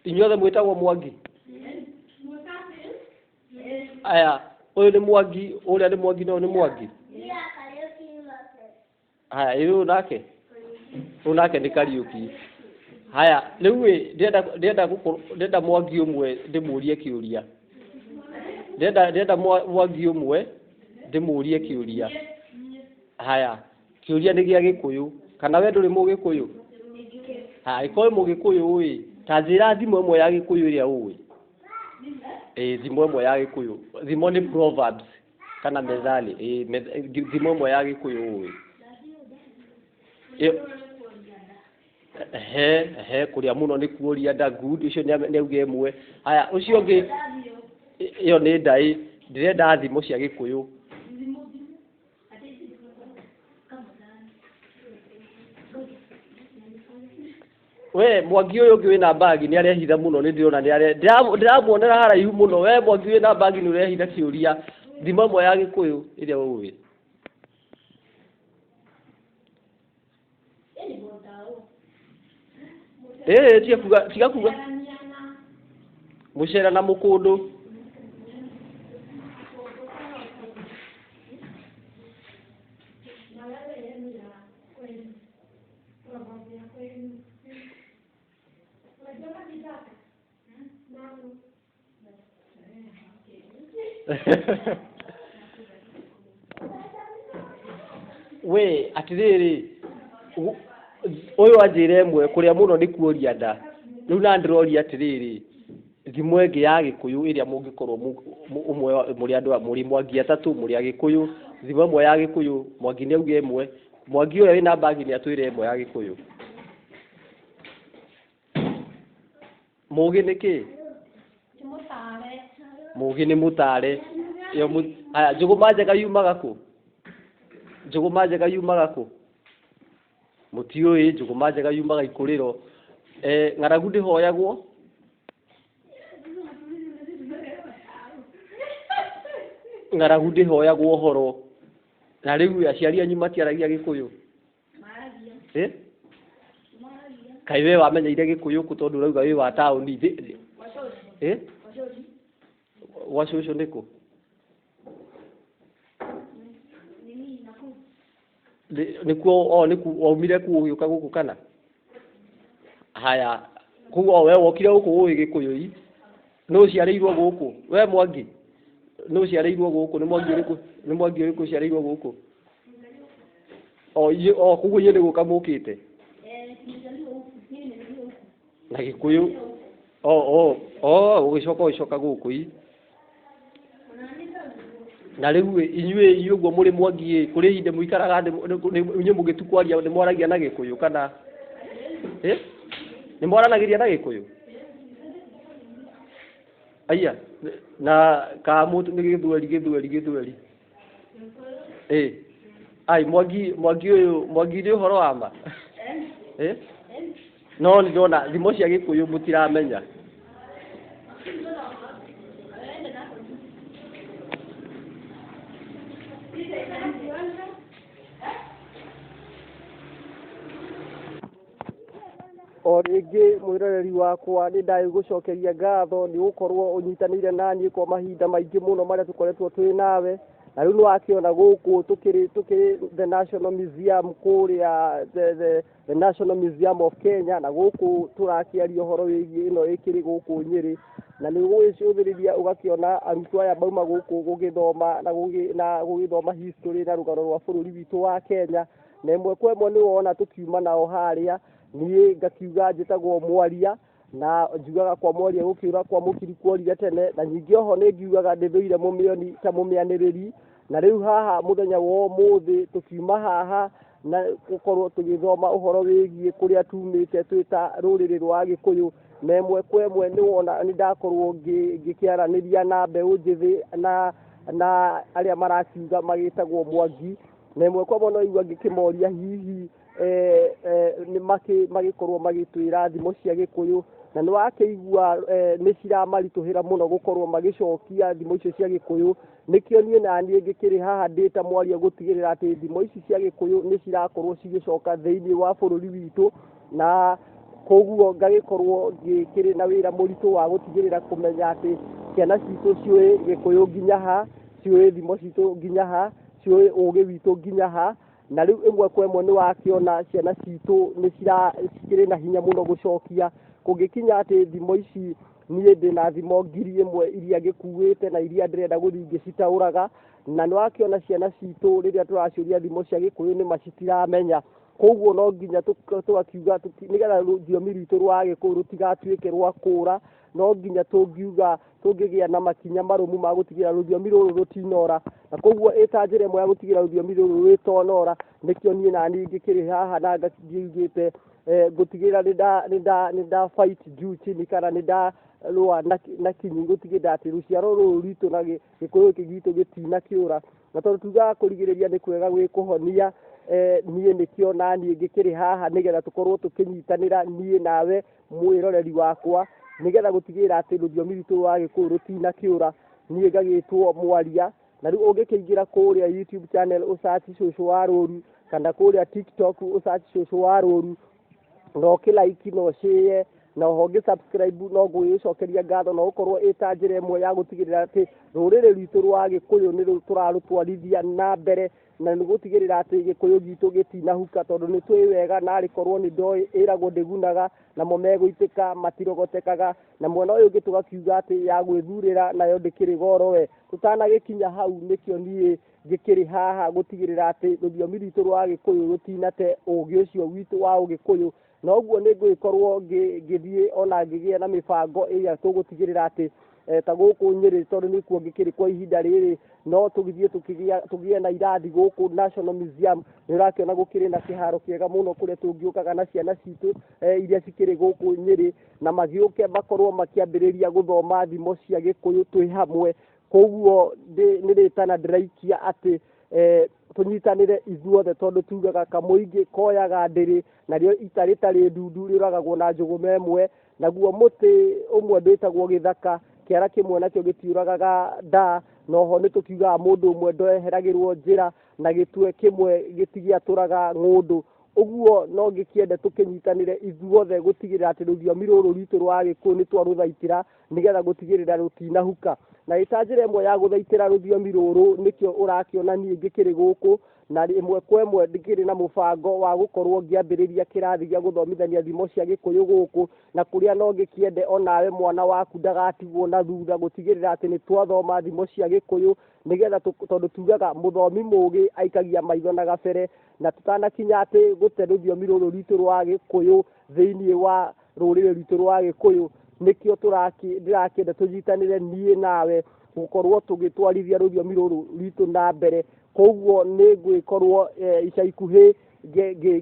inyuothe mwĩtagwo mwangi aya ũyũ nĩ mwangi ũrĩa nĩ mwangi na ũyũ nĩ mwangi haya ĩ ũyũ nake ũyũ nake nĩ kariũki haya rĩu ĩ ndĩrenda ndĩrenda gũkũ- ndĩrenda mwangi ũmwe ndĩmũrie kĩũria ndĩrenda ndĩrenda mwa- mwangi ũmwe ndĩmũrie kĩũria haya kĩũria nĩ gĩa gĩkũyũ kana we ndũrĩ mũgĩkũyũ haya ĩkoĩ mũgĩkũyũ ũĩ ta njĩra thimo ĩmwe ya gĩkũyũ ĩrĩa ũĩ ĩĩ thimo ĩmwe ya gĩkũyũ thimo nĩ proverbs kana methali ĩĩ meth- thimo ĩmwe ya gĩkũyũ ũĩ Ĩ- he he kuria muno ni kuria da good ucio ni auge imwe haya ucio ngi iyo ni ndai ndirenda thimo cia gikuyu we mwangi uyu ungi wina bagi ni arehitha muno ni ndirona ni are ndiramuonera haraihu muno we mwangi wina bagi ni urehitha kiuria thimo imwe ya gikuyu iria uwi ĩĩ tiga kuga tiga kuga gũcera na mũkũndũ we atirĩrĩ gu- ũyũ anjĩre ĩmwe kũrĩa mũno nĩ kuoria nda rĩu na ndĩroria atĩrĩrĩ thimo ĩngĩ ya gĩkũyũ ĩrĩa mũngĩkorwo mu- mu- ũmwe wa- mũrĩ andũ a- mũrĩ mwangi atatũ mũrĩ agĩkũyũ thimo ĩmwe ya gĩkũyũ mwangi nĩ auge ĩmwe mwangi ũrĩa wĩna mbagi nĩ atwĩre ĩmwe ya gĩkũyũ Mũgĩ nĩ kĩ? Mũgĩ nĩ mũtare. Haya, njũgũma njega yumaga kũ? Njũgũma njega yumaga kũ? Mũtiũĩ, njũgũma njega yumaga ikũrĩro. Ng'aragu ndĩhoyagwo? Ng'aragu ndĩhoyagwo ũhoro. Na rĩu aciari anyu matiaragia gĩkũyũ? Eh? kaĩ we wamenyeire gĩkũyũ kũ tondũ ũrauga wĩ wa taũni thĩ thĩ Eh? gwa cũcũ nĩkũ Nĩ- nĩkuo o nĩku waumire kuo ũgĩũka gũkũ kana Haya, koguo we wokire gũkũ ũĩ gĩkũyũ-i, nũ ũciarĩirwo gũkũ? We Mwangi, nũ ũciarĩirwo gũkũ? Nĩ Mwangi ũrĩkũ, nĩ Mwangi ũrĩkũ ũciarĩirwo gũkũ? O inyuĩ, o koguo inyuĩ nĩ gũka mũkĩte? Na gĩkũyũ, o o o ũgĩcoka ũgĩcoka gũkũ-i. na rĩu ĩ, inyuĩ inyuĩ ũguo mũrĩ mwangi ĩ kũrĩ ihinda mũikaraga nĩ- nĩ- nĩ- inyuĩ mũgĩtu kwaria nĩ mwaragia na gĩkũyũ kana ĩ nĩ mwaranagĩria na gĩkũyũ aiya na ka mũndũ nĩ gĩthweri gĩthweri gĩthweri ĩ ai mwangi mwangi ũyũ mwangi nĩ ũhoro wa ma ĩ no nĩ ndona thimo cia gĩkũyũ mũtiramenya o rĩngĩ mwĩroreri wakwa nĩ ndagĩgũcokeria ngatho nĩ gũkorwo ũnyitanĩire naniĩ kwa mahinda maingĩ mũno marĩa tũkoretwo twĩ nawe na rĩu nĩ wakĩona gũkũ tũkĩrĩ tũkĩrĩ the national museum kũrĩa the, the, the national museum of kenya na gũkũ tũrakĩaria ũhoro wĩgiĩ ĩno ĩkĩrĩ gũkũ nyĩrĩ na nĩ gũgĩcũthĩrĩria ũgakĩona arutwo aya mauma gũkũ gũgĩthoma na gũgĩ- na gũgĩthoma history na rũgano rwa bũrũri witũ wa kenya na ĩmwe kwa ĩmwe nĩ wona tũkiuma nao harĩa niĩ ngakiuga njĩtagwo mwaria na njugaga kwa mwaria gũkĩũra kwa mũkiri kuorire tene na nyingĩ oho nĩ ngiugaga ndĩthũire mũmĩoni ta mũmĩanĩrĩri na rĩu haha mũthenya wa ũmũthĩ tũkiuma haha na gũkorwo tũgĩthoma ũhoro wĩgiĩ kũrĩa tumĩte twĩ ta rũrĩrĩ rwa gĩkũyũ na ĩmwe kwa ĩmwe nĩ wona nĩ ndakorwo ngĩ- ngĩkĩaranĩria na mbeũ njĩthĩ na na arĩa marakiuga magĩtagwo mwangi na ĩmwe kwa mwana igua ngĩkĩmoria hihi eh, eh, nĩ makĩ- magĩkorwo magĩtwĩra thimo cia gĩkũyũ na nĩ wakĩigua eh, nĩ ciramaritũhĩra mũno gũkorwo magĩcokia thimo icio cia gĩkũyũ nĩkĩo niĩ naniĩ ngĩkĩrĩ haha ndĩ ta mwaria gũtigĩrĩra atĩ thimo ici cia gĩkũyũ nĩ cirakorwo cigĩcoka thĩinĩ wa bũrũri witũ na koguo ngagĩkorwo ngĩkĩrĩ na wĩra mũritũ wa gũtigĩrĩra kũmenya atĩ ciana citũ ciũĩ gĩkũyũ nginya ha ciũĩ thimo citũ nginya ha ciũĩ ũgĩ witũ nginya ha na rĩu ĩmwe kwa ĩmwe nĩ wakĩona ciana citũ nĩ cira- cikĩrĩ na hinya mũno gũcokia kũngĩkinya atĩ thimo ici niĩ ndĩ na thimo ngiri ĩmwe iria ngĩkuĩte na iria ndĩrenda gũthiĩ ngĩcitaũraga na nĩ wakĩona ciana citũ rĩrĩa tũraciũria thimo cia gĩkũyũ nĩ ma citiramenya koguo no nginya tũk- tũgakiuga tũti- nĩgetha rũthiomi rwitũ rwa gĩkũyũ rũtigatuĩke rwa kũra no nginya tũngiuga tũngĩgĩa na makinya marũmu ma gũtigĩra rũthiomi rũrũ rũtinora na koguo ĩta njĩra ĩmwe ya gũtigĩra rũthiomi rũrũ rwĩtonora nĩkĩo niĩ na niĩ ngĩkĩrĩ haha na ngĩugĩte eh, ngũtigĩra nĩ nda fight juu chini kana nĩ nda rũa na kinyi gũtigĩrĩra atĩ rũciaro rũrũ rwitũ na gĩkũyũ gĩkĩ gitũ gĩtina kĩũra na tondũ tugaga kũrigĩrĩria nĩ kwega gwĩ kũhonia eh, niĩ nĩkĩo na niĩ ngĩkĩrĩ haha nĩgetha tũkorwo tũkĩnyitanĩra niĩ nawe mwĩroreri wakwa nĩgetha gũtigĩrĩra atĩ rũthiomi rwitũ rwa gĩkũyũ rũtinakĩũra niĩ ngagĩtwo mwaria na rĩu ũngĩkĩingĩra kũrĩa youtube channel ũcaci cũcũ wa rũru kana kũrĩa tiktok ũcaci cũcũ wa rũru na ũkĩlaiki na ũcĩe na oho ngĩ subscribe no ngũgĩcokeria ngatho na gũkorwo ĩ ta njĩra ĩmwe ya gũtigĩrĩra atĩ rũrĩrĩ rwitũ rwa gĩkũyũ nĩ tũrarũtwarithia na mbere na nĩ gũtigĩrĩra atĩ gĩkũyũ gitũ gĩtinahuka tondũ nĩ twĩ wega na arĩkorwo nĩ ndoĩ ĩragwo ndĩgunaga namo megũitĩka matirogotekaga na mwena ũyũ ũngĩ tũgakiuga atĩ ya gwĩthurĩra nayo ndĩkĩrĩ goro we tũtanagĩkinya hau nĩkĩo niĩ ngĩkĩrĩ haha gũtigĩrĩra atĩ rũthiomi rwitũ rwa gĩkũyũ rũtinate ũgĩ ũcio witũ wa ũgĩkũyũ na ũguo nĩ ngũgĩkorwo ngĩthiĩ ona ngĩgĩa na mĩbango ĩrĩa tũgũtigĩrĩra atĩ eh, ta gũkũ nyĩrĩ tondũ nĩ kuo ngĩkĩrĩ kwa ihinda rĩrĩ no tũgithiĩ tũgĩe na irathi gũkũ national museum nĩ ũrakĩona gũkĩrĩ na kĩharo kĩega mũno kũrĩa tũngĩũkaga na ciana citũ eh, iria cikĩrĩ gũkũ nyĩrĩ na magĩũke makorwo makĩambĩrĩria gũthoma thimo cia gĩkũyũ twĩ hamwe koguo nĩ rĩtana ndĩraikia atĩ eh, tũnyitanĩre ithuothe tondũ tugaga kamũingĩ koyaga ndĩrĩ narĩo ita rĩtarĩ ndundu rĩũragagwo na njũgũma ĩmwe naguo mũtĩ ũmwe ndwĩtagwo gĩthaka kĩara kĩmwe nakĩo gĩtiũragaga ndaa noho nĩ tũkiugaga mũndũ ũmwe ndoeheragĩrwo njĩra na gĩtwe kĩmwe gĩtigĩatũraga ng'ũndũ ũguo no ngĩkĩende tũkĩnyitanĩre ithuothe gũtigĩrĩra atĩ rũthiomi rũrũ rwitũ rwa gĩkũyũ nĩ twarũthaitĩra nĩgetha gũtigĩrĩra rũtinahuka na ĩta njĩra ĩmwe ya gũthaitĩra rũthiomi rũrũ nĩkĩo ũrakĩona niĩ ngĩkĩrĩ gũkũ na ĩmwe kwa ĩmwe ndĩkĩrĩ na mũbango wa gũkorwo ngĩambĩrĩria kĩrathi gĩa gũthomithania thimo cia gĩkũyũ gũkũ na kũrĩa no ngĩkĩende onawe mwana waku ndagatigwo na thutha gũtigĩrĩra atĩ nĩ twathoma thimo cia gĩkũyũ nĩgetha tondũ tugaga mũthomi mũgĩ aikagia maitho na gabere na tũtanakinya atĩ gũte rũthiomi rũrũ rwitũ rwa gĩkũyũ thĩinĩ wa rũrĩrĩ rwitũ rwa gĩkũyũ nĩkĩo ndĩrakĩenda tũnyitanĩre niĩ nawe gũkorwo tũgĩtwarithia rũthiomi rũrũ rwitũ na mbere koguo nĩ ngwĩkorwo eh, ica ikuhĩ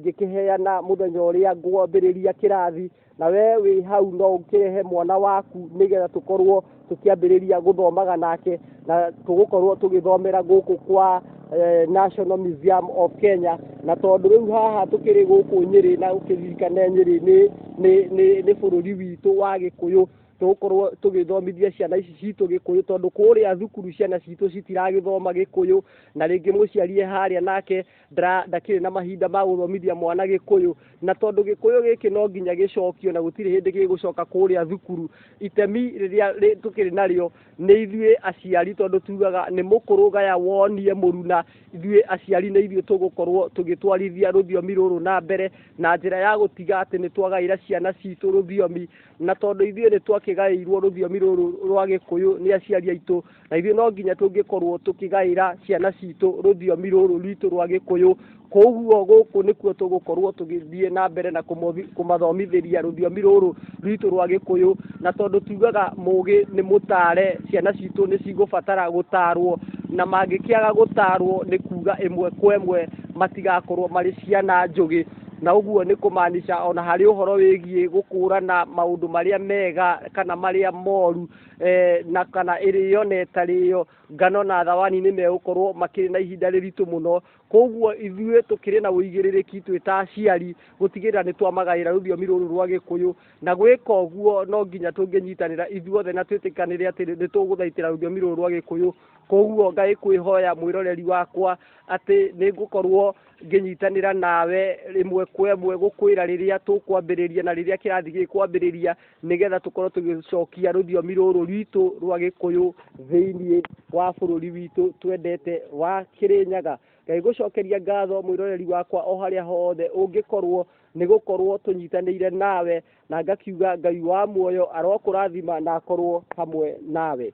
ngĩkĩheana mũthenya ũrĩa ngwambĩrĩria kĩrathi na we wĩ hau no ũkĩrehe mwana waku nĩgetha tũkorwo tũkĩambĩrĩria gũthomaga nake na tũgũkorwo tũgĩthomera gũkũ kwa eh, National Museum of Kenya na tondũ rĩu haha tũkĩrĩ gũkũ Nyĩrĩ na ũkĩririkane Nyĩrĩ nĩ nĩ nĩ nĩ bũrũri witũ wa Gĩkũyũ tũgũkorwo tũgĩthomithia ciana ici citũ gĩkũyũ tondũ kũrĩa thukuru ciana citũ citiragĩthoma gĩkũyũ na rĩngĩ mũciari e harĩa nake ndra ndakĩrĩ na mahinda ma gũthomithia mwana gĩkũyũ na tondũ gĩkũyũ gĩkĩ no nginya gĩcokio na gũtirĩ hĩndĩ gĩgũcoka kũrĩa thukuru itemi rĩrĩa rĩ- tũkĩrĩ narĩo nĩ ithuĩ aciari tondũ tugaga nĩ mũkũrũ gaya wonie mũruna ithuĩ aciari nĩ ithuĩ tũgũkorwo tũgĩtwarithia rũthiomi rũrũ na mbere na njĩra ya gũtiga atĩ nĩ twagaĩra ciana citũ rũthiomi na tondũ ithuĩ nĩ twakĩgaĩirwo rũthiomi rũrũ rwa gĩkũyũ nĩ aciari aitũ na ithuĩ no nginya tũngĩkorwo tũkĩgaĩra ciana citũ rũthiomi rũrũ rwitũ rwa gĩkũyũ koguo gũkũ nĩkuo tũgũkorwo tũgĩthiĩ na mbere na kũmothi- kũmathomithĩria rũthiomi rũrũ rwitũ rwa gĩkũyũ na tondũ tugaga mũgĩ nĩ mũtare ciana citũ nĩ cigũbatara gũtarwo na mangĩkĩaga gũtarwo nĩ kuga ĩmwe kwa ĩmwe matigakorwo marĩ ciana njũgĩ na ũguo nĩ kũmaanisha ona harĩ ũhoro wĩgiĩ gũkũrana maũndũ marĩa mega kana marĩa moru eh, na kana ĩrĩ yo na ĩtarĩ yo ngano na thawani nĩ megũkorwo makĩrĩ na ihinda rĩritũ mũno koguo ithuĩ tũkĩrĩ na ũigĩrĩrĩki twĩ ta aciari gũtigĩrĩra nĩ twamagaĩra rũthiomi rũrũ rwa gĩkũyũ na gwĩka ũguo no nginya tũngĩnyitanĩra ithuothe na twĩtĩkanĩre atĩ nĩ tũgũthaitĩra rũthiomi rũrũ rwa gĩkũyũ koguo ngai kwĩhoya mwĩroreri wakwa atĩ nĩ ngũkorwo ngĩnyitanĩra nawe rĩmwe kwa ĩmwe gũkwĩra rĩrĩa tũkwambĩrĩria na rĩrĩa kĩrathi gĩkwambĩrĩria nĩgetha tũkorwo tũgĩcokia rũthiomi rũrũ rwitũ rwa gĩkũyũ thĩinĩ wa bũrũri witũ twendete wa kĩrĩnyaga ngai gũcokeria ngatho mwĩroreri wakwa o harĩa hothe ũngĩkorwo nĩ gũkorwo tũnyitanĩire nawe na ngakiuga ngai wa muoyo arokũrathima na akorwo hamwe nawe